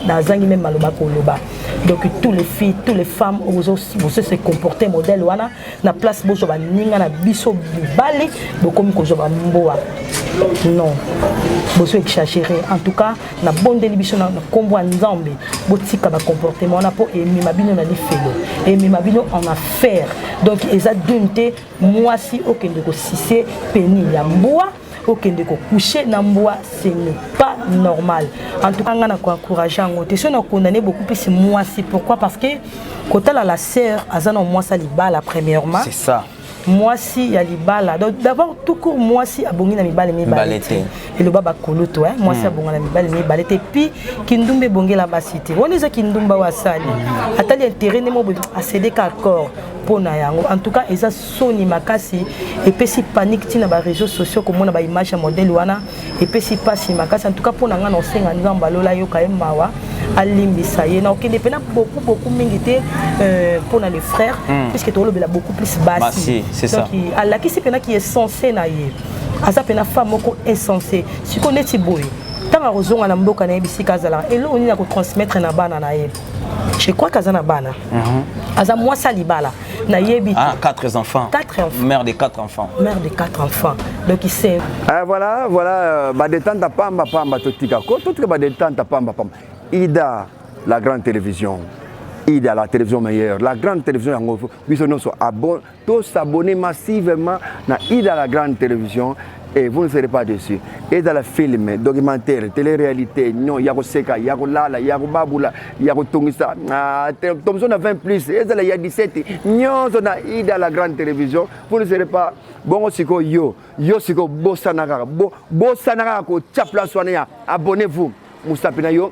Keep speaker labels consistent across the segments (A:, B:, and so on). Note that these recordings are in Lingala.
A: nazangi meme maloba koloba donc tous les filles tous les femmes ozo bozo se comporter modèle wana na place bozwa baninga na biso mibali bokomi kozwa bamboa non bozo exagere en tout cas nabondeli biso na nkombo ya nzambe botika bacomportement wana mpo emema bino na lifelo emema bino en affaire donc eza dune te mwasi okende kosise peni ya mbwa okende ko coucher na mbwa ce n'est pas normal en tout cas nga na ko encourager yango te so na condamner beaucoup plus mwasi pourquoi parce que kotala la sœur aza na mwasi libala premièrement c'est ça
B: mwasi ya
A: libala donc d'abord tout court mwasi abongi na mibale mibale te eloba bakulutu eh? mwasi hmm. abonga na mibale mibale te puis kindumba ebongela basi te wana eza kindumba oyo asali hmm. atali intérêt nde mobo asedeka accord mpo na yango en tout cas eza soni makasi epesi panique tina ba réseaux sociaux komona ba image ya modèle wana epesi pasi makasi en tout cas pona nga na osenga nzambe alola yoka ye mawa alimbisa ye na okende pena beaucoup beaucoup mingi te euh, pona le frère mm. puisque tolobela beaucoup plus basi donc
B: alakisi pena ki
A: essence na ye aza pena femme moko essence siko neti boye ntango akozonga na mboka na ye bisika azalaka eloko nini akotransmettre na bana na ye je crois que aza na bana mhm. aza mwasi ya libala nayebi ah, quatre enfants
B: quatre enfants mère de quatre
A: enfants
B: mère de quatre enfants
A: donc c'est ah, voilà voilà
C: euh, ba détente pamba pamba totika ko totika ba détente pamba pamba ida la grande télévision ida la télévision meilleure la grande télévision yango biso nyonso to s'abonner massivement na ida la grande télévision Et vous ne serez pas déçus. Et dans le film, documentaire, télé-réalité, non, yako seka, yako lala, yako babula, yako tongisa, ah, tomson à 20 plus, et dans le ya 17, non, on a eu dans la grande télévision, vous ne serez pas, bon, siko yo, yo siko, bosanaka, bo, bosanaka, ko, tchapla, soignez, abonnez-vous, moustapina yo,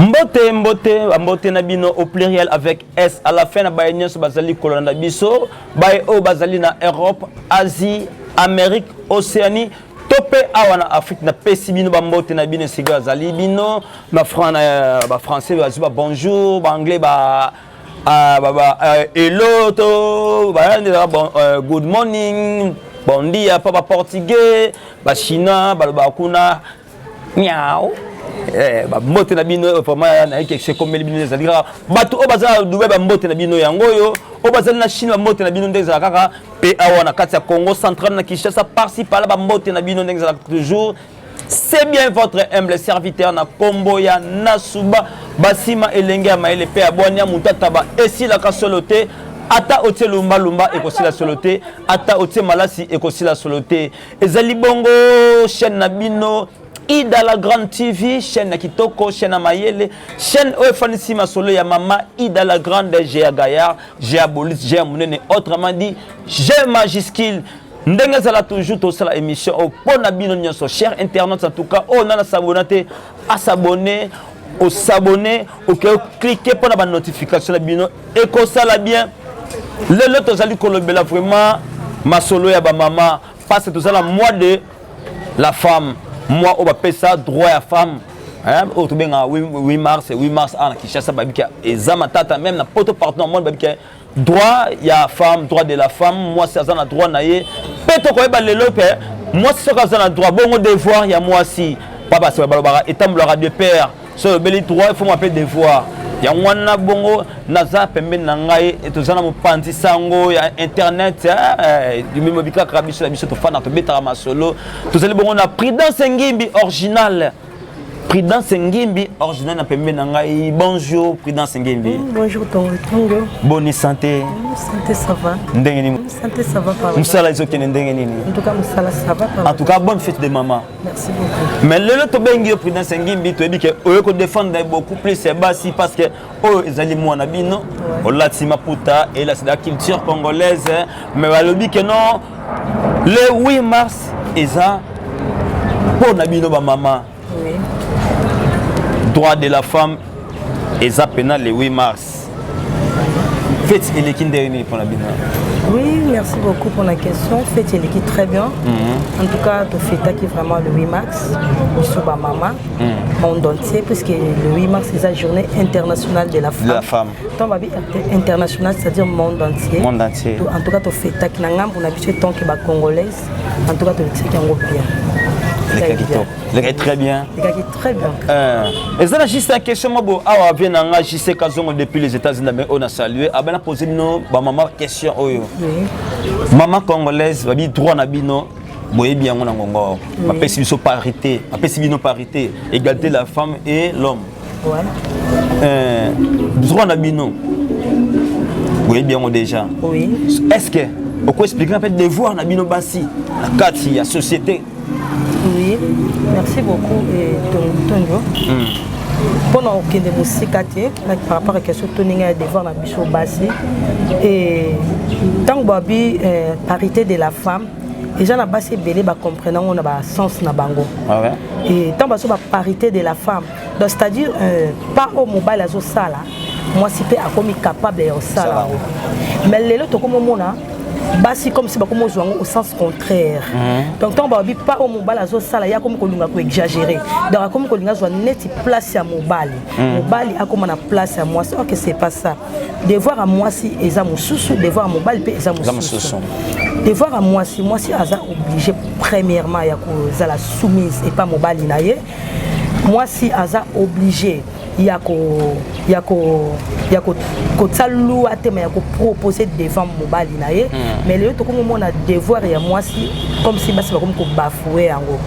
D: mbote mbote
B: mbote na bino au pluriel avec s à la fin na baye nyonso bazali kolanda biso baye oyo bazali na europe asie amérique océanie to mpe awa na afrique napesi bino bambote na bino esika azali bino bafrançais bazwi ba bonjour baanglais ba ah, euh, hello to euh, good morning bondia mpo baportugais bachinois balobaka kuna Miau. Eh, bambote na bino vraiment nayeke sekomeli bino ezali kaka bato oyo baza na dubai bambote na bino yango oyo oyo bazali na chine bambote na bino nde ezala kaka mpe awa na kati ya congo central na kinshasa parci pala bambote na bino ndenge ezalaka toujours c'est bien votre humble serviteur na kombo ya nasuba basima elenge ya mayele mpe ya bwania mutataba esilaka solo te ata otie lumbalumba ekosila solo te ata otie malasi ekosila solo te ezali bongo chaîne na bino ida la grande tv chaîne na kitoko chaîne ya mayele chaîne oyo efandisi masolo ya mama ida la grande je ya gayar je ya bolise je ya monene autrement dit je majuscule ndenge ezala toujours tosala émission oyo mpo na bino nyonso cher internet en tout cas oyo nana sabona te asabone o s'abonner oke o cliquer mpo na ba notification na bino ekosala bien lelo tozali kolobela vraiment masolo ya bamama parce que toza na mois de la femme mois oyo bapesa droit ya femme oyo tobengaka 8 mars 8 mars awa na kinshasa babika eza matata meme na poto partout na monde babika droit ya femme droit de la femme mwasi aza na droit na ye mpe tokoyeba lelo mpe mwasi soki aza na droit bongo devoir ya mwasi papa aseba balobaka etambolaka de père so olobeli droit ifo mwa mpe devoir yango wana bongo naza pembeni na ngai toza na mopanzi sango ya internet eh, eh, mimo bikaka biso na biso tofanda tobetaka masolo tozali bongo na prudence ngimbi original Prudence Ngimbi, original na pembe na ngai. Bonjour Prudence Ngimbi. Mm, bonjour
A: Tongo Tongo. Bonne santé. Mm,
B: santé ça va.
A: Ndenge nini? Mm, santé
B: ça va pardon. Musala
A: izo kene ndenge nini?
B: En tout cas musala ça
A: va pardon. En tout cas bonne fête de maman.
B: Merci beaucoup.
A: Mais lelo to bengi yo
B: Prudence Ngimbi, to yebi ke oyo ko défendre beaucoup plus basi parce que oyo ezali mwana bino olati maputa elasi la culture congolaise mais balobi ke non le 8 mars eza mpo na bino bamama
A: oui.
B: droit de la femme eza mpena le 8 mars feti eleki ndenge nini mpo na bino oui merci
A: beaucoup pour la question feti eleki très bien mm -hmm. en tout cas tofetaki vraiment le 8 mars biso bamama hmm. monde entier puisque le 8 mars c'est la journée internationale de la femme, de la femme. donc babi international c'est à dire monde entier monde entier en tout cas
B: tofetaki
A: na ngambo na biso etanke bacongolaise en tout cas tolekisaki yango bien lekaki top
B: lekaki très bien lekaki très
A: bien eza na
B: juste na question mwa bo awa vie na nga jc kazongo depuis les états unis oyo na salue abana pose bino bamama question oyo mama
A: congolaise
B: babi droit na bino boyebi yango na ngongo bapesi biso parité bapesi bino parité égalité la femme et l'homme
A: euh, droit
B: na bino boyebi yango déjà est
A: ce que
B: okoexplike mpe devoir na bino basi na kati ya société oui
A: merci beaucoup tondio mpo na kokende mosika te par rapport ya question to ndenge ya devoir na biso basi ntango babi parité de la femme eza na basi ebele bacomprene yango na basens na bango ah
B: ntango bazo
A: baparité de la femme donc c'est à dire euh, pa oyo mobali azosala mwasi mpe akomi capable ya kosala yango mais lelo tokomomona basi comme si bakomi ozwa yango au sens contraire mhm. donc ntango balobi pa oyo mobali azosala ye akomi kolinga koexagere donc akomi kolinga azwa neti place ya mobali mhm. mobali akoma na place ya mwasi orke c'est pas ça devoir ya mwasi eza mosusu devoir ya mobali mpe eza mosusu devoir ya mwasi mwasi aza oblige premièrement ya kozala soumise epa mobali na ye mwasi aza oblige ya ko ya ko ya ko kotia lua te ma ya kopropose devant mobali na ye hmm. mais lelo tokomomona devoir ya mwasi comme si basi bakomi kobafoue yango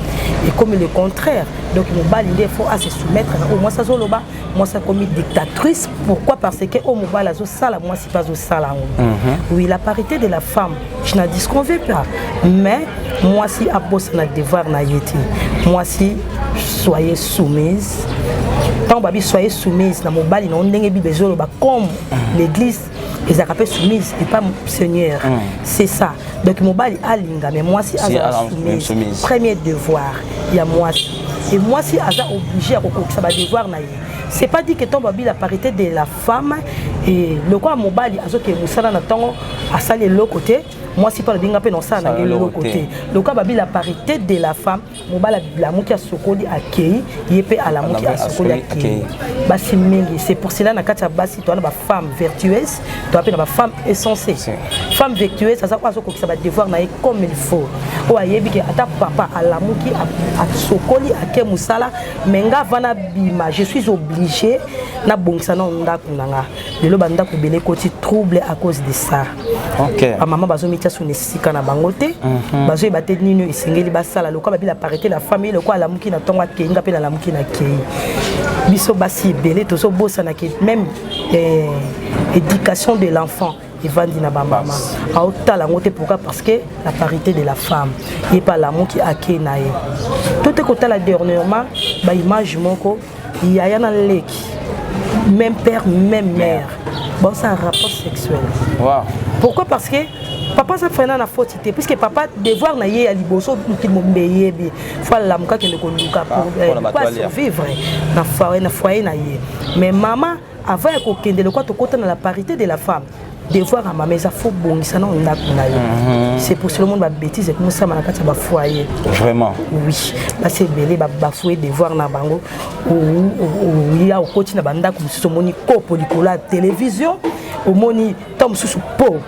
A: ekomi le contraire donc mobali nde faut ase soumettre na oyo mwasi azoloba mwasi akomi dictatrice pourquoi parce que oyo mobali azosala mwasi mpe azosala yango mhm. oui la parité de la femme je na disconve pas mais mwasi abosana devoir na ye te mwasi soyez soumise ntango babi soyez soumise na mobali na yo ndenge bible ezoloba comme mhm. l'église ezalaka mpe soumise epa seigneur mm. c'est ça donc mobali alinga mais mwasi azala soumise premier devoir ya mwasi e mwasi aza oblige ya kokokisa badevoir na ye c'est pas dit que ntango babila parité de la femme e lokola mobali azokee mosala na ntango asali eloko te mwasi mpe alobinga mpe na osala na ye eloko te lokola babila parité de la femme mobali alamuki asokoli akei ye mpe alamuki asokoli akei basi mingi c'est pour cela na kati ya basi toa na bafemme vertueuse toa mpe na bafemme essence femme vertueuse aza oyo azokokisa badevoir na ye comme il faut oyo ayebi ke ata papa alamuki asokoli ake mosala me nga vana bima je suis obligé nabongisa nao ndako na nga lelo bandako ebele ekoti trouble à cause de ça okay. bamama bazomitya sona esika na bango te mm -hmm. bazoyeba te nini oyo esengeli basala lokola babila parite na famille lokola alamuki na ntongo akei nga mpe nalamuki na kei biso basi ebele tozobosana ke même eh, éducation de l'enfant evandi na bamama aotala yango te pourquoi parce que la parité de la femme ye mpe alamuki akei na ye to te kotala dernièrement baimage moko yaya na leki même père même mère baosala rapport sexuel wow.
B: pourquoi parce que
A: papa aza frena na foti te puisque papa devoir na ye ya liboso mokili mobimba eyebi fo alamuka kende koluka po asurvivre na foyer na ye mais mama Avant ya kokende lokola tokota na la parité de la femme devoir ya mama eza fo bongisa nao ndako na yo mhm. c'est pour cela monde babétise ekomi osama na kati ya bafoyer vraiment oui basi ebele babafoye devoir na bango ya okoti na bandako mosusu omoni kopo likolo ya télévision omoni ntango mosusu po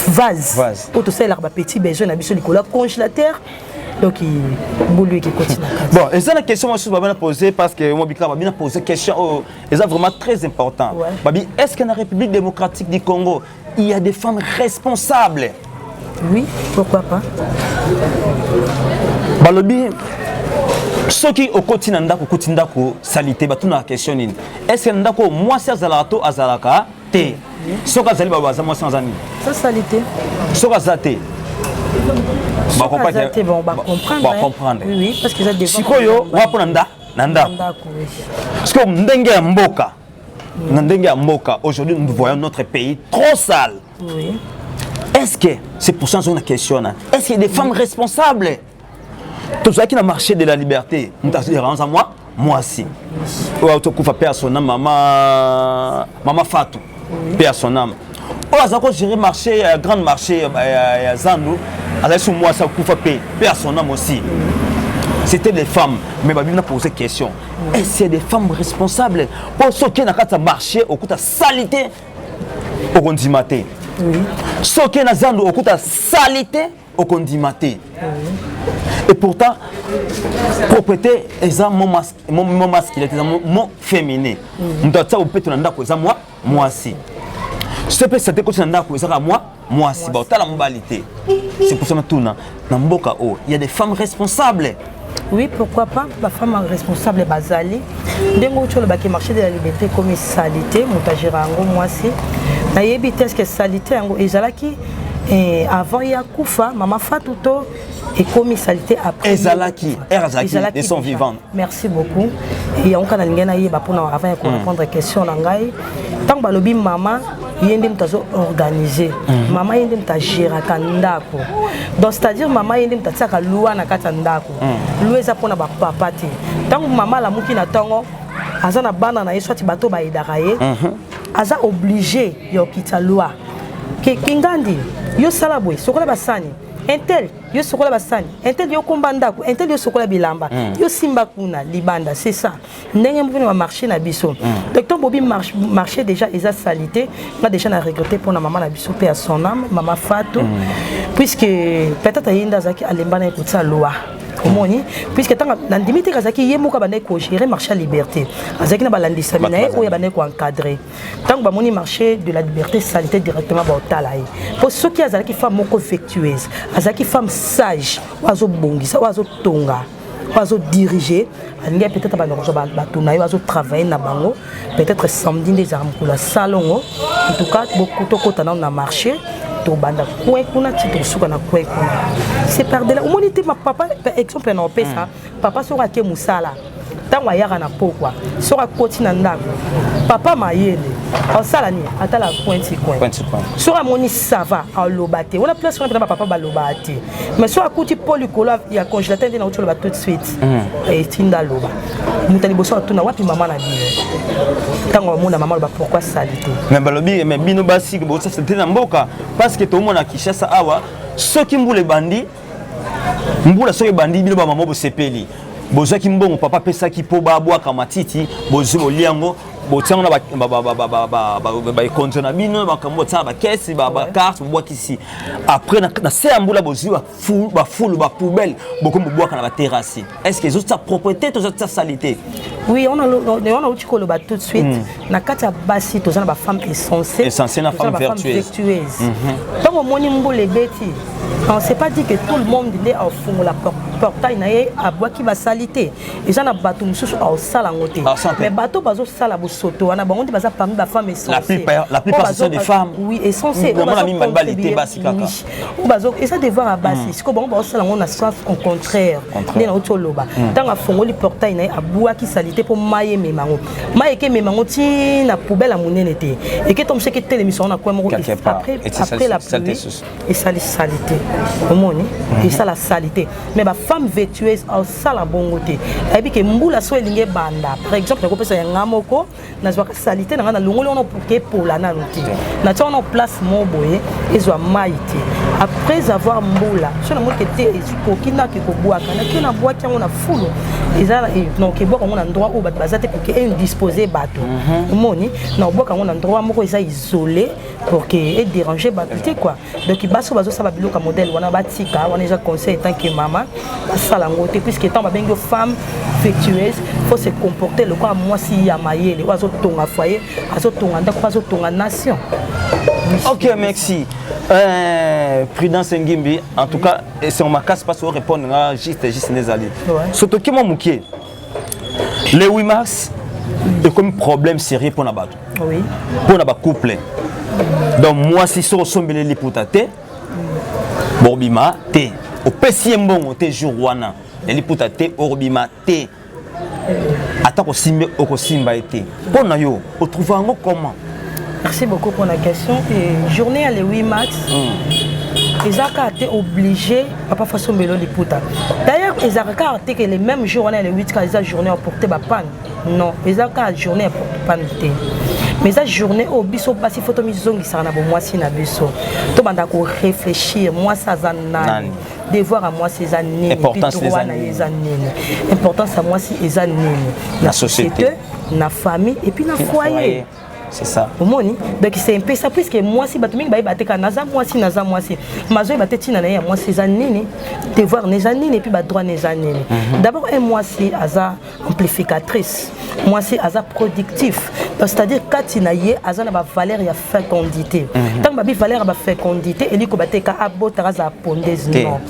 A: vase oyo tosalelaka bapetit besoin na biso likolo ya congélateur donc bolu ekekoti na kati bon eza na question
B: mosusu babana pose parce que mobikaba bina pose question oyo oh, eza vraiment très important ouais. babi est ce que na république démocratique du congo il y a des femmes responsables
A: oui pourquoi pas balobi
B: soki okoti na ndako okoti ndako salite batunaka question nini est ce que na ndako mwasi azalaka to azalaka te soki azali baba aza mwasi aza nini
A: soki aza te bakomprandrasikoyo wa mpo na nda
B: na ndako sikoyo ndenge ya mboka na ndenge ya mboka aujourd'hui nous voyons notre pays trop sale oui.
A: est-ce que
B: c'est pour ça nazongi na question na est-ce que des femmes responsables tozalaki na marché de la liberté moto azoderanza mwa mwasi oyo tokufa mpe asona mama mama fatou paix à son âme oyo aza ko gérer marché ya grande marché ya zando azali so mwasi akufa mpe mpe ya son âme aussi c'était des femmes mais babi na poser question et c'est des femmes responsables mpo soki na kati ya marché okuta salite okondima te
A: soki na
B: zando okuta salite okondima te et pourtant propreté eza mo masculin eza mo féminin moto atia bopeto na ndako eza mwa mwasi soki epesa te koti na ndako eza kaka mwa mwasi baotala mobali te c'est pour ça natuna na mboka oyo oh, ya des femmes responsables Oui, pourquoi
A: pas Ba femme responsable bazali. Ndenge oyo olobaki marché de la liberté ekomi salite, moto agera yango mwasi. Nayebi te eske salite yango ezalaki eh, avant ya kufa mama Fatou to ekomi salite après. Ezalaki, ère
B: azalaki, ils sont vivants. Merci beaucoup.
A: Et yango kana lingena yeba pona avant ya ko hmm. répondre question na ngai. Tant balobi mama ye nde moto azo organise mhm. mama ye nde moto agéraka ndako donc c'est-à-dire mama ye nde moto atiaka loi na kati ya ndako mhm. loi eza mpona bapapa te ntango mama alamuki na ntongo aza na bana na ye swati bato bayedaka ye mhm. aza oblige ya okitisa loi kingandi yo sala boye sokola basani intel yo sokola basani intel yo komba ndako intel yo sokola bilamba yo simba kuna libanda c'est ça ndenge moko na marché na biso mm. donc ntango bobi marché déjà eza salite nga déjà na regrette mpo na mama na biso mpe ya son âme mama fatu mm. puisque peut-être ye nde azalaki alemba na ye kotia loi omoni puisque ntango nandimi te azalaki ye moko abandaki kogere marché ya liberté azalaki na balandisami na ye oyo abandaki koencadre ntango bamoni marché de la liberté salite directement baotala ye mpo soki azalaki femme moko vectueuse azalaki femme sage oyo azobongisa oyo azotonga oyo azodirige alingi ya peut-être abanda kozwa bato na ye bazotravaille na bango peut-être samedi nde ezalaka mokolo ya salongo en tout cas tokota nano na marché tobanda kwe kuna ti tosuka na kwe kuna c'est par dela omoni te papa exemple na opesa mm. papa soki ake mosala ntango ayaka na pokwa soki akoti na ndako papa mayele osala nini atala coin ti coin soki amoni sava aloba te wana place wana mpena bapapa balobaka te mais soki akuti mpo likolo ya congélateur nde nauti oloba tout de suite hmm. etinda eh, aloba moto ya liboso atuna wapi mama na bino ntango bamona mama aloba pourkui sali te mais balobi mais
B: bino basi bosasa te na mboka parce que tomona kinshasa awa soki mbula ebandi mbula soki ebandi bino bamama bosepeli bozwaki mbongo papa apesaki mpo babwaka matiti bozwi bolia yango botiango na baekonzo na bino makambo botiaka bakesi bakarte bobwakisi après na se ya mbula bozwi bafulu bapoubelle bokomi bobwaka na baterasi est ce que ezotia propreté to ezotia salite oui
A: on a on a outi koloba tout de suite hmm. na kati ya basi toza na bafemme essentielle essentielle na femme
B: vertueuse
A: ntango mhm. omoni mbula ebeti on sait pas dit que tout le monde nde afungola portail na ye abwaki basali te eza na bato mosusu aosala yango te mais bato bazosala bosoto wana bango nde baza parmi bafemme essenceui
B: essenceeza
A: devoir ya basi sikoyo bango bazosala yango na sens au contraire nde nauti oloba ntango afongoli portail na ye abwaki salite mpo mai emema yango mai eke emema yango ti na poubele ya monene te eke to mosu eke telemisa yango na kwe moko après la pluie esali salite omoni mhm. esala salite mais bafemme vétueuse asala bongo te ayebi ke mbula so elingi ebanda par exemple nakopesa ya nga moko nazwaka salite na ngai nalongoli wana pour ke epola nano te natya wana place mo boye ezwa mai te après avoir mbula so namoni ke te ekoki nake kobwaka nake nabwaki yango na fulu eza donc ebwaka yango na ndroit oyo bato baza te pour ke indispose bato mhm. omoni na obwaka yango na ndroit moko eza isole pour que e déranger bato te quoi donc basi oyo bazosala biloko ya modèle wana batika wana eza conseil etant que mama basala yango te puisque ntango babengi yo femme affectueuse faut se comporter lokola mwasi ya mayele oyo azotonga foyer azotonga ndako mpe azotonga nation
B: ok merci euh, prudence ngimbi en tout cas esengo makasi mpasi orépondre nga juste juste nde ezali sotoki mwa moke le 8 mars ekomi problème sérieux mpo na bato mpo na
A: bacouple
B: donc mwasi soki osombeli liputa te bobima te opesi ye mbongo te jour wana ya liputa te obima te ata kosimbe okosimba ye te mpo na yo otrouva yango comment merci beaucoup
A: mpo na question e journée ya le 8 max mm. eza kaka te obligé papa faso mbelo liputa d'ailleurs ezalaka kaka te ke le même jour wana ya le 8 kaka eza journée ya porte bapane non eza kaka journée ya porte pane te mais eza journée oyo biso basi fo tomizongisaka na bomwasi na biso tobanda korefléchir mwasi aza nani devoir ya mwasi eza nini pitro wana ye eza
B: nini importance
A: ya mwasi eza nini na société
B: na famille
A: et puis na foyer c'est ça
B: omoni donc c'est
A: mpesa puisque mwasi bato mingi bayeba te kaka naza mwasi naza mwasi mazoyeba te ntina na ye ya mwasi eza nini devoir na eza nini epuis badroit na eza nini mhm. d'abord un mwasi aza amplificatrice mwasi aza productif donc c'est à dire kati na ye aza na bavaleur ya fécondité ntango mhm. babi valeur ya bafécondité eliko bateka abotaka azala pondese non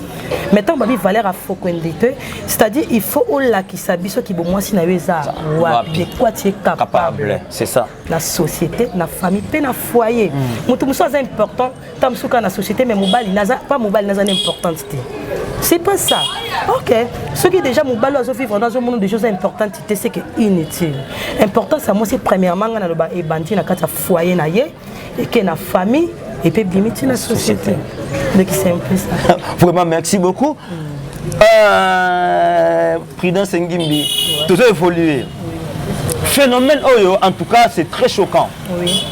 A: mais ntango babi valeur ya fokwende te c'est-à-dire il faut olakisa biso kibomwasi na yo eza wapi de quoi tu es capable c'est ça na
B: société
A: na famille mpe na foyer mm. moto mosusu aza important ntango mosusu kaka na société mais mobali naza pas mobali naza na importante te c'est pas ça ok soki déjà mobali oyo azovivre na azomona déjà oza importante te c'est que inutile importance ya mwasi premièrement ngai naloba ebandi na kati ya foyer na ye eke na famille epe bimi ti na société donc c'est un peu ça vraiment merci beaucoup
B: mm. euh, prudence ngimbi ouais. tozo évoluer mm. phénomène oyo en tout cas c'est très choquant oui.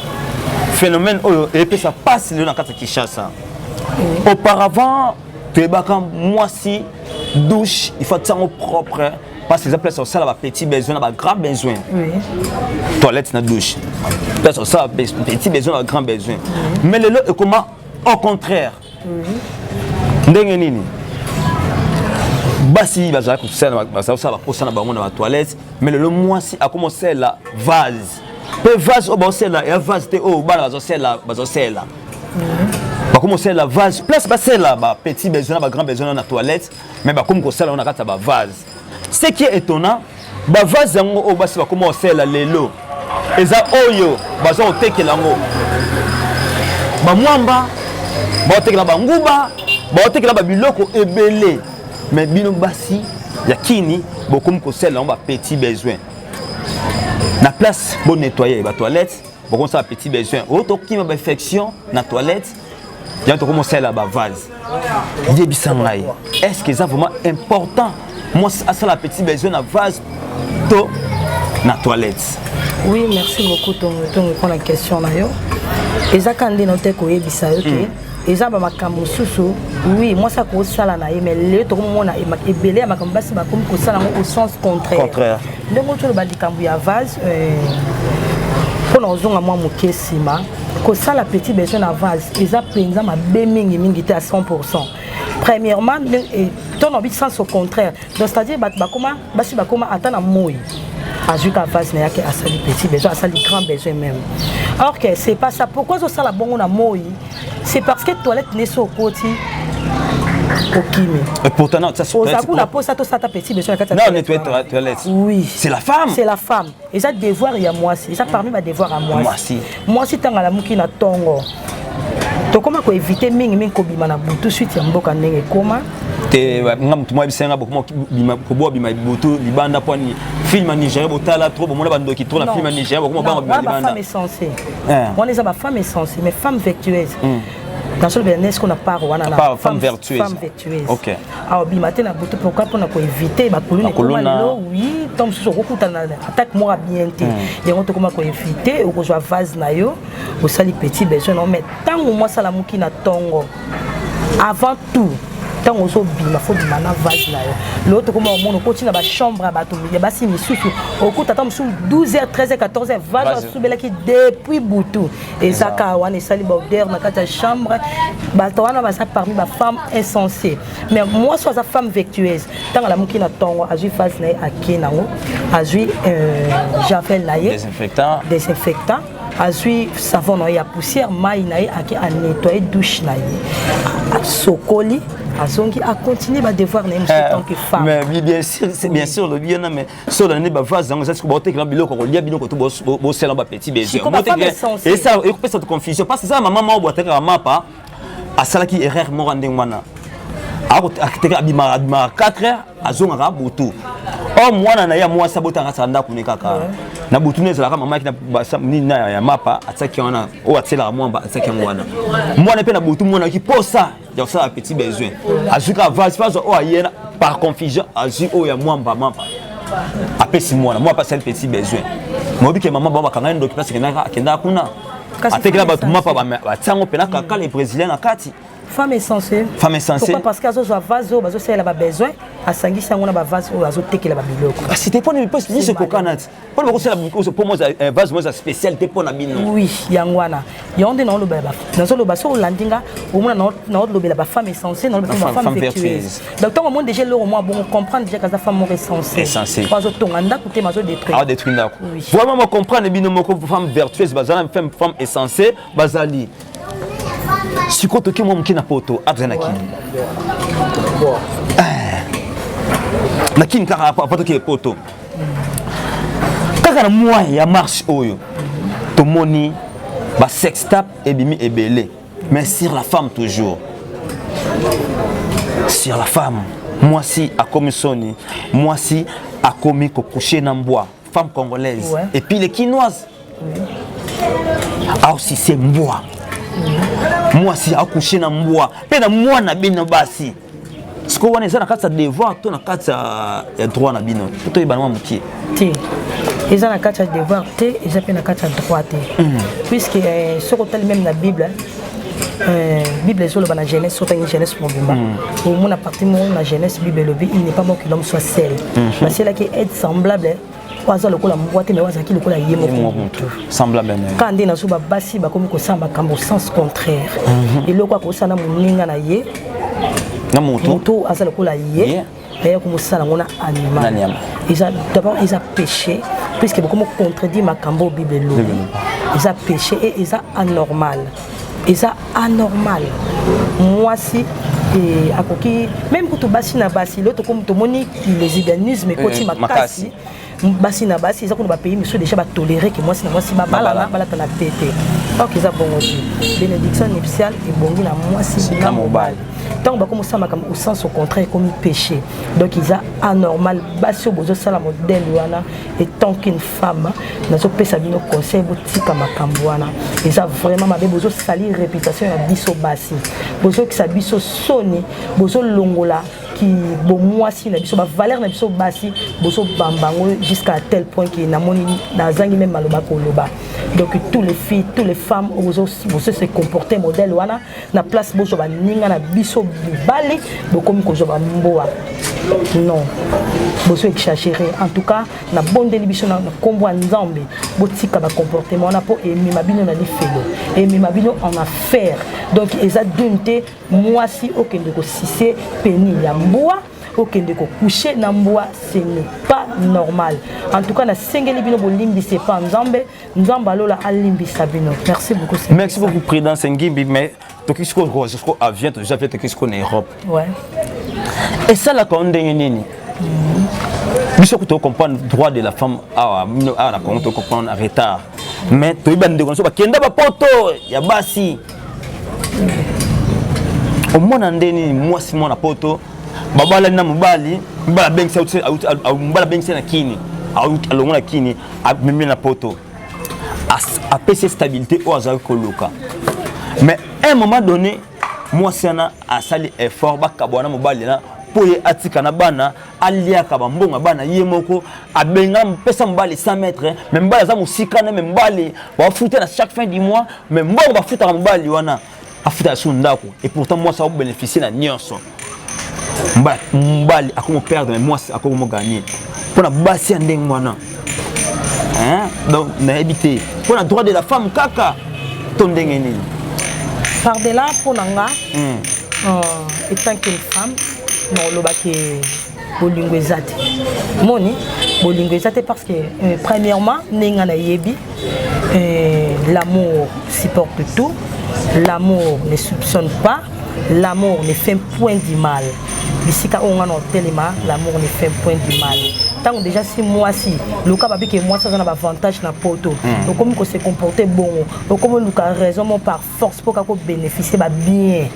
A: phénomène
B: oyo epesa pasi lelo na kati ya kinshasa mm. auparavant toyebaka mwasi douche il faut atiango propre Parce que place ça ba petit besoin na ba grand besoin.
A: Oui. Toilette
B: na douche. Place ça petit besoin na grand besoin. Oui. Mais le lot comment au contraire. Oui. Ndenge nini? basi bazala kosala bazala kosala baposa na bango na batoilette mais lelo mwasi akoma osala vase mpe vase oyo baosala ya vase te oyo bana bazosala bazosala bakoma osala vase place basala bapetit besoin na bagrand besoin na toilette mais bakomi kosala yango na kati ya bavase ce qui est étonnant bavase yango oyo basi bakoma kosalela lelo eza oyo baza kotekela yango bamwamba baotekela banguba baotekela babiloko ebele mais bino basi ya kini bokomi kosalela yango bapetit besoin na place bonettoye batoilette bokomi kosala petit besoin oyo tokima bainfection na toilette ya tokomi osalela bavase yebisa ngai est ce que eza vraiment important mwasi asala petit besoin na vase to na toilette oui merci
A: beaucoup tongo mpo na question na yo eza ka nde na te koyebisa yo ke hmm. eza ba makambo mosusu oui mwasi akosala na ye mais lelo tokomona ebele ya makambo basi bakomi kosala yango au sens contraire ndenge otoloba likambo ya vase euh, mpo na kozonga mwa moke nsima kosala petit besoin na vase eza mpenza mabe mingi mingi te à 100 pourcent premièrement to na bi sens au contraire donc c'est à dire bato bakoma basi bakoma ata na moi azwi ka vase na yake asali petit besoin asali grand besoin même or que c'est pas ça pourquoi ozosala bongo na moi c'est parce que toilette neso okoti okimi
B: oza kuna mposa tosata petit
A: besoin na kati ya toilette oui
B: c'est la femme
A: c'est la
B: femme eza
A: devoir ya mwasi eza parmi ba devoir ya mwasi mwasi ntango alamuki na ntongo tokoma koevite mingi mingi kobima na butu suite ya mboka ndenge ekoma te nga
B: motu mwa bisenga koboa bima butu libanda mpo ani film ya nigeria botala tro bomona bandoki tro na film ya nigeria bokoma banga bima libanda
A: eh. wana eza bafemme esense mais femme vectueuse hmm. nasolobela nesko na part wana na femme
B: vertueuse
A: awa bima
B: te na
A: butu pourkui mpo na koevite bakuluna ekoma lelo wi ntango mosusu okokutana na atake moko ya bien te hmm. yango tokoma koevite okozwa vase na yo osali petit besoin nao mai ntango mwasi alamuki na ntongo avant tout ntango ozobima fo bima na vase na yo lelo tokoma omona okoti na bachambre ya bato ya basi misusu okuta ata mosusu 12 h 13 h 14 h vase asubelaki depuis butu eza kaka wana esali baodeur na kati ya chambre bato wana baza parmi bafemme insensé mais mwasi aza femme vectueuse ntango alamuki na ntongo azwi fase na ye akei nango azwi euh, javel
B: na ye
A: desinfectant azwi savon na ye ya poussière mai na ye ake anetoye douche na ye asokoli azongi acontinue badevoir na ye mosusu eh, tant que femme mais bien sûr
B: bien sûr olobi wana mais soki olandi bavase yango ezasi baotekela biloko kolia bino koto bosela bapetit besekopesa confusion parce eza mama moko boatekaka mapa asalaki erreur moko ndenge wana akiteka abimaka abimaka 4 heures azongaka butu o mwana na ye ya mwasi abotaka asala ndako ne kaka na butu ne ezalaka mama yaki nini ya mapa atiaki wana oyo atielaka mwamba atiaki yango wana mwana mpe na butu mwanaki posa donc ça petit besoin azwi kaka vase vase oyo ayena par confusion azwi oyo ya mwamba mamba apesi mwana mwa apasali petit besoin moyebi ke mama bango bakanga ye ndoki place kendaka akendaka kuna atekela bato mapa batiango mpena kaka le brésilien na kati femme insensée
A: femme insensée pourquoi parce que
B: azozwa vase
A: oyo bazosalela ba besoin asangisi yango na ba vase oyo azotekela ba biloko kasi te mpona mipasi nyonso
B: ekokana ti mpona bakosala mokuse mpo moza eh, vase moza spécial te mpo na bino oui yango wana
A: yango nde naolobela nazoloba soki olandi nga omona naolobela bafemme essentiel naolobafemme vertueuse donc ntango omoni déjà eloko mwa bongo comprendre déjà kaza femme moko essentiel po azotonga
B: ndako te
A: mazodetruire ndako
B: vraiment mocomprendre bino moko femme vertueuse bazala femme essentiel bazali sikoyo toki mwa moke na poto abza na kini eh. na kini kaka apa toki poto kaka na mwa ya marche oyo tomoni ba sextap ebimi ebele mais sur la femme toujours sur la femme mwasi akomi soni mwasi akomi kokushe na mbwa femme congolaise ouais. et puis les kinoises aosi se mbwa mwasi akushe na mbwa mpe na mwana bino basi sikoyo wana eza na kati ya devoir to na kati ya droit na bino toyebana mwa mokie te
A: eza na kati ya devoir te eza mpe na kati ya droit te mm. puisque eh, soki otali meme na bible Euh, bible ezoloba na jeunesse soki otangi jeunesse mobimba hmm. omona parti moko na jeunesse bible elobi il n'est pas mort que l'homme soit seul baselaki hmm. aide semblable oyo aza lokola mbwa te me oyo azalaki lokola ye moko motu kaka
B: nde nazo
A: babasi bakomi kosala makambo sens contraire mhm. eloko akosala na moninga na ye na
B: moto aza lokola ye
A: naye komosala yango na animal eza d'abord eza péché puisque bokomi contredire makambo oyo bible elobi eza péché e eza anormal eza anormal mwasi e, akoki meme kutu basi na basi lelo tomoni lesbianisme ekoti eh, makasi basi na basi eza kuna bapays misusu deja batolere ke mwasi na mwasi babalana balatana tete ok eza bongo te bénédiction nuptiale ebongi na mwasi na mobali ntango bakomosala makambo au sens au contraire ekomi péché donc eza anormal basi oyo bozosala modèle wana etant qu'une femme nazopesa bino conseil botika makambo wana eza vraiment mabe bozosali réputation ya biso basi bozokisa biso soni bozolongola ki bomwasi na biso bavaleur na biso basi bozobamba yango jusqu'à tel point ke namoni nazangi meme maloba koloba donc tous les filles tous les femmes bozo se comporter modèle wana na place bozwa baninga na biso mibali bokomi kozwa bamboa non bozo exagere en tout cas nabondeli biso na nkombo ya nzambe botika bacomportement wana mpo emema bino na lifelo emema bino en affaire donc eza dune te Mwasi okende ko sise peni ya mbwa okende ko coucher na mbwa ce n'est pas normal. En tout cas na sengeli bino bolimbisa epa Nzambe, Nzambe alola alimbisa bino. Merci beaucoup. Sengisa. Merci beaucoup Prudence Ngimbi mais
B: toki siko ko jusqu'au avion to jafe toki siko na Europe. Ouais. Et ça la ko ndenge nini? biso kutu ocomprendre droit de la femme awa awa na congo tocomprendre retard mais toyebi bandeko na biso bakenda bapoto ya basi omona nde nini mwasi mwana poto babalani na mobali mobali abengisi na kini alongo na kini amemi na poto apesi stabilité oyo azalaki koluka mais un moment donné mwasi wana asali effort bakabwana mobali na mpo ye atika na bana aliaka bambongo ya bana ye moko abenga pesa mobali 100 mètre me mobali aza mosika ne me mobali bafuta na chaque fin du mois me mbongo bafutaka mobali wana afutaka su ndako et pourtant mwasi akobénéficie na nyonso mobali akomoperdre me mwasi akomoganie mpo na basi ya ndenge wana hein? donc nayebi te mpo na droit de la femme kaka to ndenge nini pardela
A: mpo na nga hmm. euh, étant qu'une femme nakolobaki bolingo eza te moni bolingo eza te parce que euh, premièrement ndenge nga nayebi euh, l'amour supporte tout l'amour ne soupçonne pas L'amour ne fait point du mal. bisika oyo nga na otelema l'amour ne fait point du mal ntango déjà si mwasi loka babi ke mwasi aza na baavantage na poto hmm. okomi kose comporte bongo okomi oluka raison mo par force mpo kaka kobénéficie babien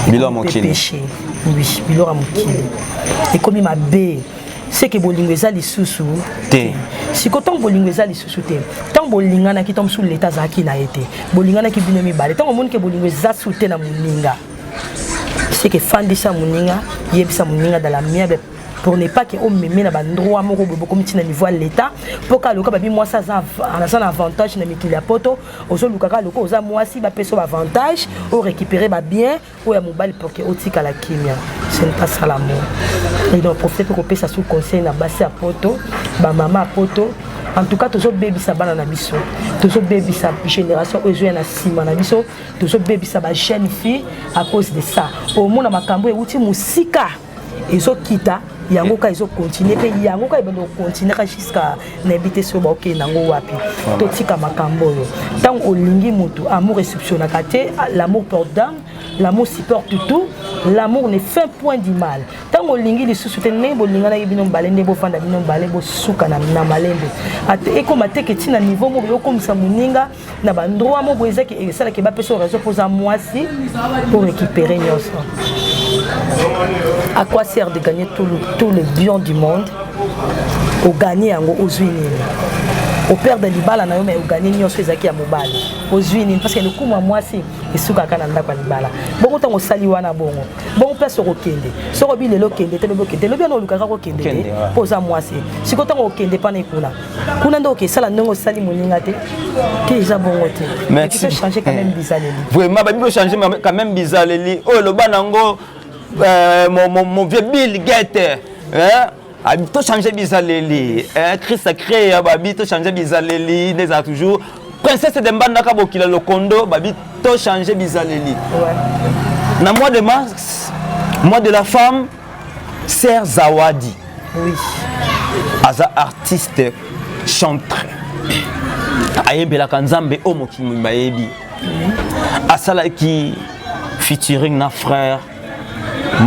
B: bilo ya mokili oui
A: bilo ya mokili ekomi mabe seke bolingo eza lisusu te
B: siko ntango
A: bolingo eza lisusu te ntango bolinganaki ntango mosusu leta azalaki na ye te bolinganaki bino mibale ntango omoni ke bolingo eza su te na moninga seke fandisa moninga yebisa moninga dala miabe pour ne pas ke omeme na bandroit moko boye bokomi ntina niveau ya leta mpo kaka loka babi mwasi aza na avantage na mikili ya poto ozoluka kaka loka oza mwasi bapesa yo baavantage orécupere babien oyo ya mobali pour que otikala kimia ce n'est pas ça l'amour et donc profite mpe kopesa sous conseil na basi ya poto bamama ya poto en tout cas tozobebisa bana na biso tozobebisa génération oyo ezoya na nsima na biso tozobebisa ba jeune fille à cause de ça omona makambo euti mosika ezokita yango kaka ezokontinue mpe yango kaka ebanda kokontinue kaka juska nayebi te soki baokende yango wapi totika makambo oyo ntango olingi motu amour esuptionaka te l'amour porte dame l'amour supporte tout l'amour ne fait point du mal ntango olingi lisusu te ndenge bolinganaki bino mbale nde bofanda bino mbale bosuka na malembe ekoma teke ntina niveau moko yokomisa moninga na bandroit moko ezaki esalaki bapesa yo raison mpoza mwasi pour récupérer nyonso à quoi sert de gagner tout le, tout le bion du monde oganye yango ozwi nini operde libala na yo mai oganye nyonso ezalaki ya mobali ozwi nini parce que lokumu ya mwasi esukaka na ndako ya libala bongo ntango osali wana bongo bongo place okokende soki obi lelo okende te lobi okende lobi wana olukaka kokende te mpo oza mwasi sikoyo ntango okende mpana ekuna kuna nde okesala ndenge osali moninga te te eza bongo te merci changer quand même bizaleli vraiment babi ko changer
B: quand même bizaleli oyo loba nango euh, mon, mon, mon vieux Bill Gates hein ah, to changer bizaleli hein Christ a créé hein, babi to changer bizaleli des a toujours princesse de mbandaka bokila lokondo babi to changer bizaleli ouais. na mois de mars mois de la femme Serge Zawadi. Oui.
A: Aza
B: artiste chantre. ayembelaka nzambe oyo mokili mobimba ayebi asalaki featuring na frère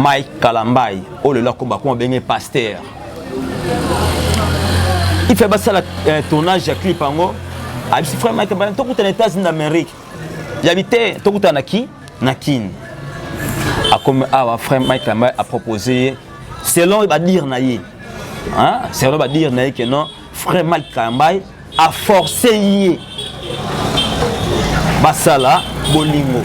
B: mike kalambai oyo lelo akoba kuma benge paster ife basala eh, tournage ya clip yango abisi frère mike tokutana états-unis d'amérique yabi te tokutana ki na kin akomi awa ah, frère mike lamba apropose ye selon badire na ye selon badire na ye ke non frère mike kambai aforce ye basala bolingo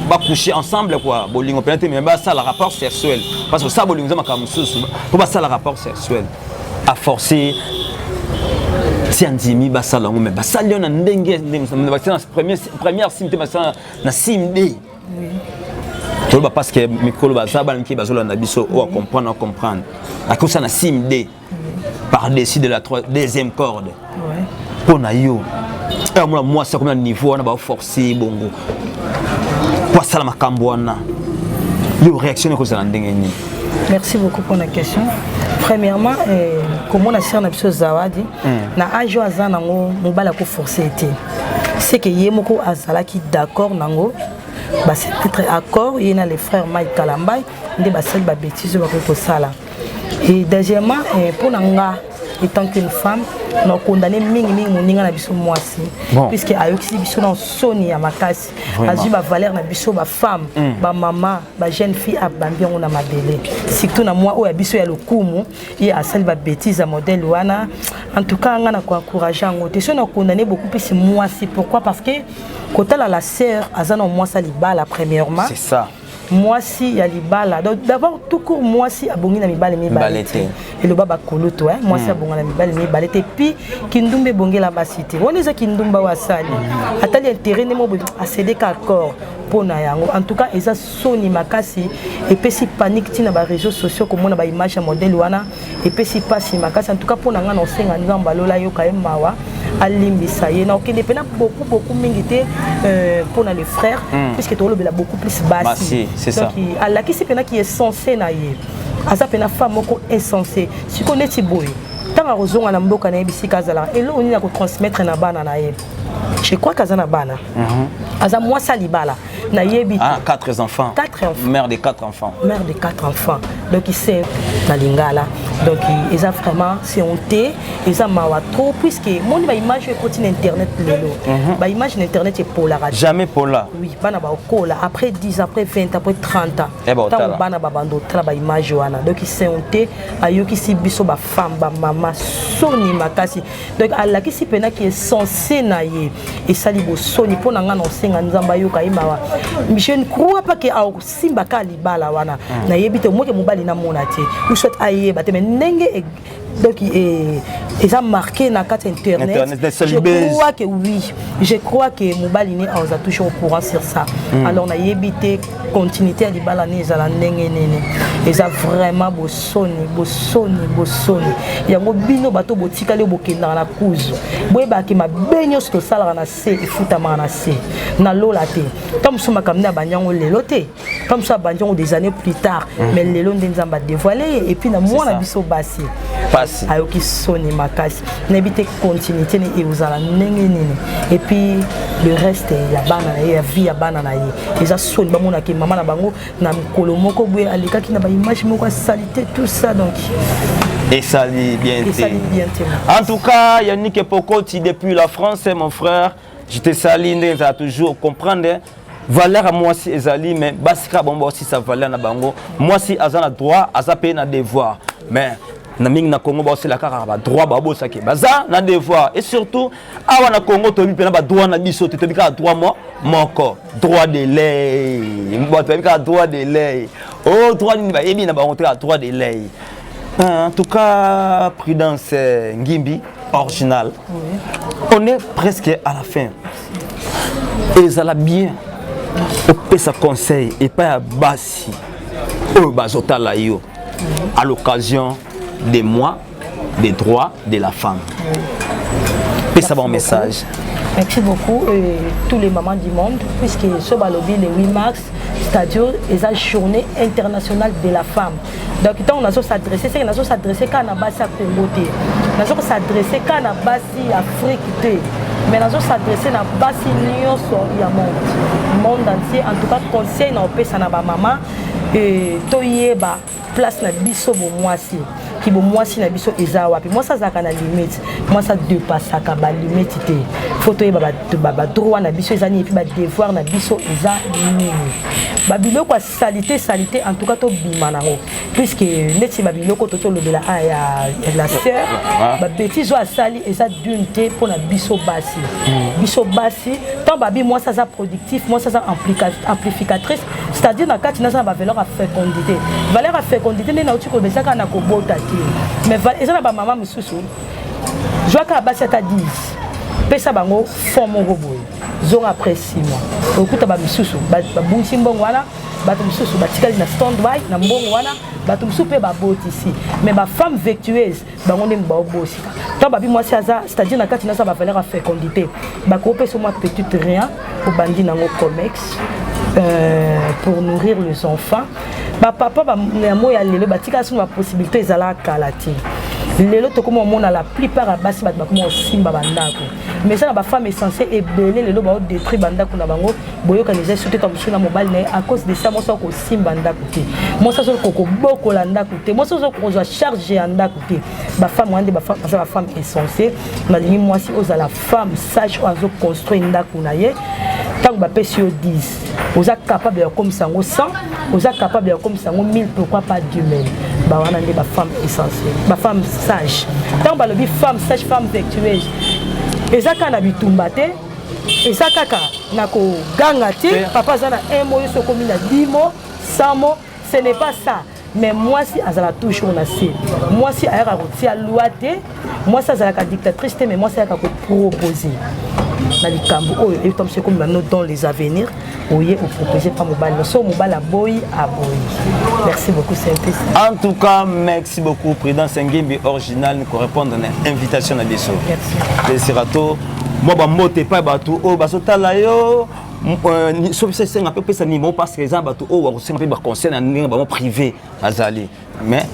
B: bakouche ensemble kua bolingo mpena te me basala rapport sexuel parce que osala bolingo eza makambo mosusu mpo basala rapport sexuel aforce ti andimi basala yango me basali yo na ndenge ndenge bakisa na premier première sim te basala na sim d toloba parce que mikolo baza bana mike bazolanda biso oyo acomprendre acomprendre akosa na sim d par dessus de la deuxième corde mpo na yo amona mwasi akomi na niveau wana baforce bongo mpo asala makambo wana yo réaction ekozala ndenge nini merci beaucoup
A: pour la question premièrement eh, komona sere na biso zawadi hmm. na age oyo aza nango mobali akoforce te c'est que ye moko azalaki d'accord nango ba se mettre accord ye na le frère Mike Kalambay nde basali ba bêtises oyo bakoki kosala et deuxièmement eh, mpo na nga étant qu'une femme na condamné mingi mingi moninga na biso mwasi bon. puisque ayokisi biso na soni ya makasi azwi bavaleur na biso bafemme mm. bamama bajeune fille abambi yango na mabele surtout na mwa oyo ya biso ya lokumu ye asali ba bêtise ya modèle wana en tout cas nga na ko encourager yango te so na condamner beaucoup plus mwasi pourquoi parce que kotala la sœur aza na mwasi ya libala premièrement c'est ça
B: mwasi ya
A: libala donc d'abord tout court mwasi abongi na mibale mibale te eloba bakulutu eh? mwasi mm. abonga na mibale mibale te puis kindumba ebongela basi te wana eza kindumba oyo asali atali intérêt nde mobo asedeka accord mpo na yango en tout cas eza soni makasi epesi panique tina ba réseaux sociaux komona ba image ya modèle wana epesi pasi makasi en tout cas pona nga na osenga nzambe alola yoka ye mawa alimbisa ye na okende pena beaucoup beaucoup mingi te euh, pona le frère mm. puisque tolobela beaucoup plus basi donc alakisi pena ki
B: essence
A: na ye aza pena femme moko essence siko neti boye ntango akozonga na mboka na ye bisika azalaka eloko nini akotransmettre na bana na ye je crois que aza na bana mhm. aza mwasi ya libala nayebi ah, quatre enfants quatre
B: enfants mère de quatre
A: enfants
B: mère de quatre enfants
A: donc c'est na lingala donc eza vraiment c'est honte eza mawa trop puisque moni baimage ekoti na internet lelo mhm. baimage na internet epolaka jamais pola oui
B: bana baokola
A: après 10 après 20 après 30 ans eh ben, ntango bana babanda otala baimage wana donc c'est honte ayokisi biso bafemme bamama soni makasi donc alakisi mpena ke sense na ye esali bosoni mpo na ngai na osenga nzambe ayoka ye mawa je ne crois pas ke asimbaka libala wana hmm. nayebi te omoke mobali namona te ou soit ayeba te mais ndenge e, donc e, eza marqué na kati ya internetcrois que oui je crois que mobali ne aza toujours au courant sur ça hmm. alors nayebi te continuité ya libala nini ezala ndenge nini eza vraiment bosoni bosoni bosoni yango bino bato botikali bokendaka na kuzu boyebaki mabe nyonso tosalaka na se efutamaka na se na lola te ntango mosusu makambo nde abandi yango lelo te ntango mosusu abandi yango des années plus tard mm. mais lelo nde nzambe adevoile ye epuis na mwana biso basi pasi ayoki
B: soni
A: makasi nayebi te continuité ne ekozala ndenge nini epuis le reste ya bana na ye ya vie ya bana na ye eza soni bamona ke mama na bango na mokolo moko boye alekaki na baimage moko ya salite tout ça donc esali
B: bien te en tout cas yannick epokoti depuis la france mon frère je te sali ndenge ezala toujours comprendre valeur ya mwasi ezali mais basi kaka bango baosisa valeur na bango mwasi aza na droit aza mpe na devoir mais na mingi na congo baosela kaka badroit babosaki baza na devoir et surtout awa na congo toyebi mpena badroit na biso te toyebi kaka droit mo moko droit de lei bato bayebi kaka droit de lei o oh, droit nini bayebi na bango te kaka droit de lei en tout cas prudence euh, ngimbi original oui. on est presque à la fin ezala bien opesa conseil epai ya basi oyo bazotala yo à l'occasion de moi des droits de la femme pesa bango message merci beaucoup
A: euh, tous les mamans du monde puisque so balobi le 8 mars stadio eza journée internationale de la femme donc ntango nazo s'adresse seke nazo s'adresse kaka na basi ya congo te nazo s'adresse kaka na basi ya afrique te mais nazo s'adresse na basi nyonso ya monde monde entier en tout cas conseil na opesa na bamama euh, toyeba place na biso bomwasi ki bomwasi na biso eza wapi mwasi azalaka na limite mwasi adepassaka balimite te fo toyeba badroit na biso eza nini epuis badevoir na biso eza nini babiloko ya salite salite en tout cas tobima nango puisque neti babiloko to tolobela a ya la sœur ah. babetise oyo asali eza dune te mpo na biso basi hmm. biso basi ntango babi mwasi aza productif mwasi aza amplificatrice c'est-à-dire na kati naza na bavaleur ya fécondité valeur ya fécondité nde nauti koloba eza kaka na kobota te mais eza na bamama mosusu zwaka basi ata 10 pesa bango fond moko boye zonga après 6 mois okuta bamisusu babungisi mbongo wana bato mosusu batikali na stand by na mbongo wana bato mosusu mpe babotisi mais bafemme vectueuse bango ndenge baobosi to babi mwasi aza c'est-à-dire na kati naza bavaleur ya fécondité bakopesa mwa petite rien obandi nango comex euh, pour nourrir les enfants bapapa yango ya lelo batika sino bapossibilité ezala kala te lelo tokoma omona la plupart ya basi bato bakoma kosimba bandako mais eza na bafemme essentiel ebele lelo baodétruire bandako na bango boyokani eza soki ka mosusu na mobali na ye à cause de ça mwasi oyo kosimba ndako te mwasi azoki kokobokola ndako te mwasi ozoki kozwa charge ya ndako te bafemme wana nde baza bafemme essence nalingi mwasi ozala femme sage oyo azoconstruire ndako na ye ntango bapesi yo 10 oza capable ya kokomisa yango 100 oza capable ya kokomisa yango 1000 pourquoi pas 2000 ba wana nde bafemme essentiel bafemme sage ntango balobi femme sage femme vertueuse eza kaka na bitumba te eza kaka na koganga te papa aza na un mo yo so okomi na dimo samo ce n'est pas ça mais mwasi azala toujours na se mwasi ayaka kotia loi te mwasi azalaka dictatrice te mais mwasi ayaka kopropose na likambo oyo etamso ekomema no dans les avenirs oye opropose mpa mobali noso mobali aboyi aboyi merci beaucoup synthese en tout cas
B: merci beaucoup président sengembi original korépondre na invitation na biso esira to mwa
A: bambote
B: epai bato oyo bazotala yo euh, soki biso esenga mpe opesa nimo parce que eza bato oyo bakosenga mpe baconseil na ndenge bango privé bazali mais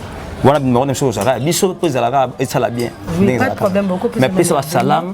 B: wana bimero na biso ozalaka biso mpe ezalaka esala bien
A: mais pesa basalame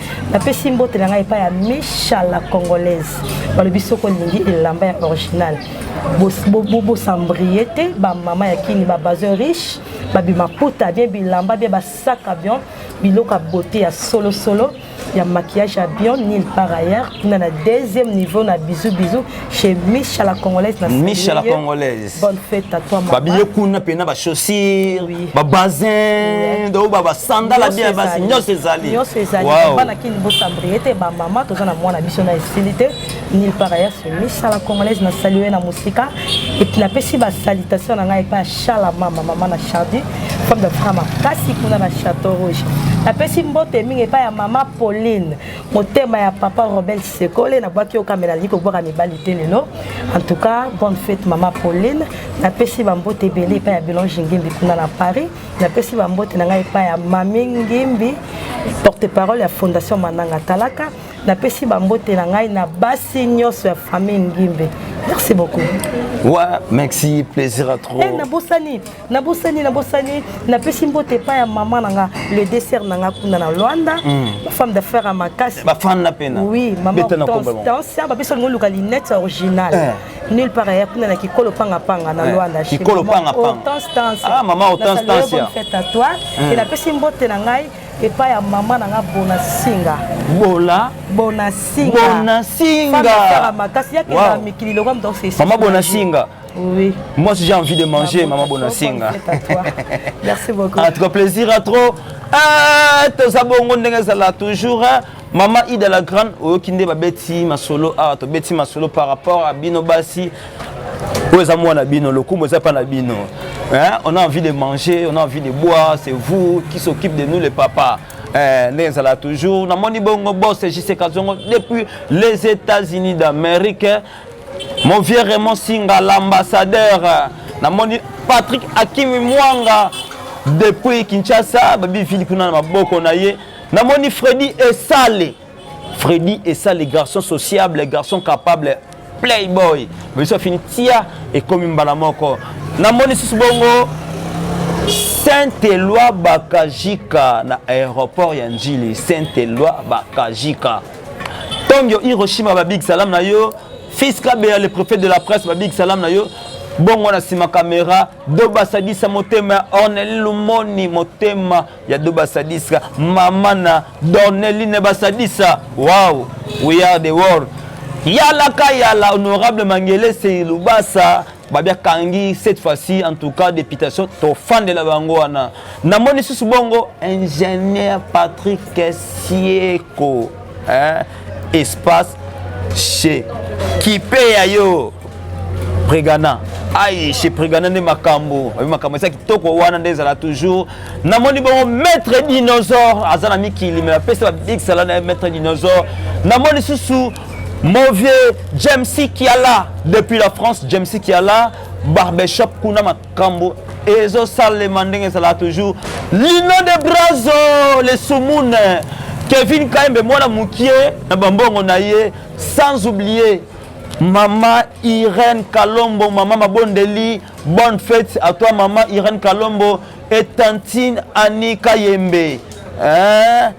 A: napesi mbote na ngai epai ya misha la congolaise balobi soki olingi elamba ya original bosambrie te bamama ya kini babazo riche babimaputa bie bilamba bie basaka bion biloko ya bote ya solosolo ya maquillage ya bion nil par ailleurs kuna na deuxième niveau na bizu bizu chez Micha la Congolaise. La Micha la Congolaise.
B: Bonne fête à toi, maman.
A: Babiye kuna pena ba
B: chaussures, oui. ba bazin, do ba ba sandala bien ba signon ses amis. Signon ses amis. Wow. Bana kin
A: bo sambriete ba maman to na mwana biso na estilité. Nil par ailleurs chez Micha la Congolaise na saluer na musika et puis na pesi ba salutation na ngai pa Chala mama maman na Chardy, femme de femme kasi kuna na Château Rouge. Na pesi mbote mingi pa ya maman Pauline. motema ya papa robin sekole nabwaki yo kamela nalingi kobwaka mibali te lelo en tout cas bonne fête mama pauline napesi bambote ebele epai ya belange ngimbi kuna na paris napesi bambote na ngai epai ya mami ngimbi porte parole ya fondation mananga talaka napesi bambote na ngai na basi nyonso ya famille ngimbe merci beaucoup wa
B: merci plaisir à trop hey, eh, nabosani
A: nabosani nabosani napesi mbote epai ya mama na nga le dessert na nga kuna na luanda hmm. bafemme d'affaire ya makasi bafanda mpena oui
B: mama
A: hortensia bapesa lingo luka linete original eh. nulle part aya kuna na kikolo pangapanga na eh. luanda kikolo pangapanga mama hortensia
B: fête à toi
A: et napesi mbote na ngai epai ya mama na nga bona singa bola bona singa bona singa makasi yakenda mikili lokola moto mama bona singa
B: Oui.
A: Moi, j'ai envie de
B: manger, maman Bonasinga.
A: Merci beaucoup. En tout cas, plaisir à trop.
B: Ah, toza bongo ndenge ezala toujours hein. mama ida la grande oyoki nde babeti masolo awa ah, tobeti masolo par rapport à bino basi oyo eza mwana bino lokumu eza mpa na bino hein? on a envie de manger on a envie de boire c'est vous qui s'occupe de nous les papas Eh, ndenge ezala toujours namoni bongo bos jcka zongo depuis les états-unis d'amérique Mon vieux Raymond Singa, l'ambassadeur, namoni Patrick Akimi Mwanga depuis Kinshasa, babi vili kuna na maboko na ye. Namoni Freddy Esale. Freddy Esale, garçon sociable, garçon capable, playboy. Biso afini tia ekomi mbala moko. Namoni sisi bongo Saint-Eloi Bakajika na aéroport ya Njili. Saint-Eloi Bakajika. Tongyo Hiroshima ba big salam na yo. Fils Kabeya le prophète de la presse ba big salam na yo. Bongo na sima kamera Doba Sadisa motema Ornel Lumoni motema ya Doba Sadisa mama na Dorneline Basadisa. Wow, we are the world. Yala ka yala honorable Mangele Seilubasa babia kangi cette fois-ci en tout cas députation tofandela bango wana namoni susu bongo ingénieur patrick sieko hein? espace chez kipe ya yo pregana ai chez pregana nde makambo abi makambo eza kitoko wana nde ezala toujours namoni bongo maître dinosaure aza na mikili me bapesa babikisala na ye maître dinosaure namoni susu Mon vieux Jamesy Kiala depuis la France, Jamesy Kiala, barbershop kuna makambo ezosalema ndenge ezalaka toujours lino de brazo le sumune kevin kaembe mwana mokie na bambongo na ye sans oublier mama irene kalombo mama mabondeli bonne fête à toi mama irene kalombo et tantine annie kayembe hein?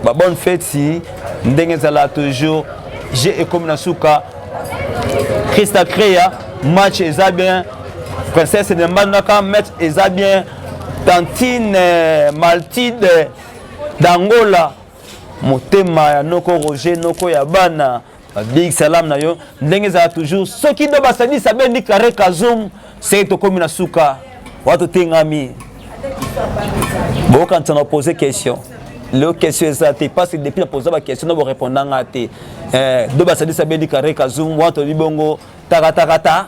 B: ba bonne fete ndenge ezala toujours jeu ekomi na suka christa crea match eza bien princesse de mbandaka match eza bien tantine euh, maltide euh, d'angola motema ya noko roger noko ya bana Big salam na yo ndenge ezala toujours soki do basalisa bendi kare kazum seke tokomi na suka wa totengami bokanisa na pose question leo question eza te parce que depuis na posa baquestion na borépondanga te eh, do basalisa bendi kare kazum wa toli bongo takatakata